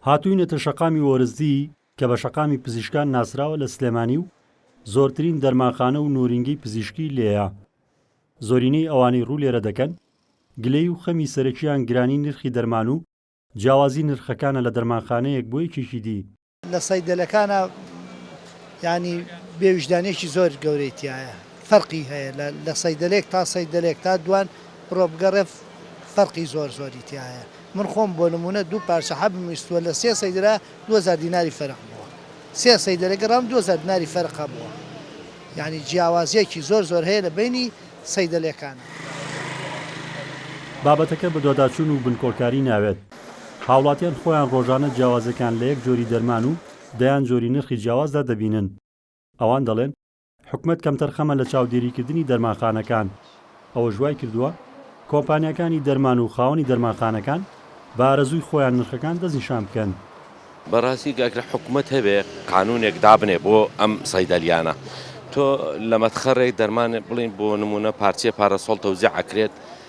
هاتووینەتە شەقامی وەرزدی کە بە شەقامی پزیشکان ناسراوە لە سلێمانی و زۆرترین دەرمانخانە و نۆرینگەی پزیشکی لێیە زۆرینەی ئەوانەی ڕوو لێرە دەکەن گلەی و خەمی سەرەکیان گرانی نرخی دەرمان و جیاوازی نرخەکانە لە دەرمانخانەیەک بۆ یەکێکی دی لە سەیدەلەکانا یانی بێ ویژدانێکی زۆر گەورەی تایە فەرقی هەیە لە سەیدەلێک تا سەیدەلێک تا دوان بڕۆ بگەڕێ فەرقی زۆر زۆری تایە من خۆم بۆ نمونە دوو پارچە حەب میستوە لە سێ سەیدرا 2000 دیناری فەرق بووە سێ سەیدەلە گەڕام 2000 دیناری فەرقا بووە یعنی جیاوازیەکی زۆر زۆر هەیە لە بینی سەیدەلەکان بابەتەکە بەدواداچوون و بنکۆڵکاری ناوێت. هاوڵاتیان خۆیان ڕۆژانە جیاوازیەکان لە یەک جۆری دەرمان و دەیان جۆری نرخی جیاوازدا دەبینن. ئەوان دەڵێن، حکومەت کەمتەرخەمە لە چاودێریکردنی دەرمانخانەکان. ئەوەش وایکردووە کۆمپانیاکانی دەرمان و خاوەنی دەرمانخانەکان بە ئارەزووی خۆیان نرخەکان دەستنیشان بکەن. بەڕاستی گەر حکومەت هەبێ قانونێک دابنێ بۆ ئەم سەیدەلیانە تۆ لە مەتخەڕێک دەرمان بڵێن بۆ نمونە پارچەیە پارەسۆڵ تەوزیع ئەکرێت،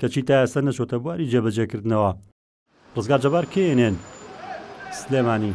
کەچی تا ئێستا نەچووەتە بواری جێبەجێکردنەوە. ڕزگار جەبار کێ یێنێن سلێمانی.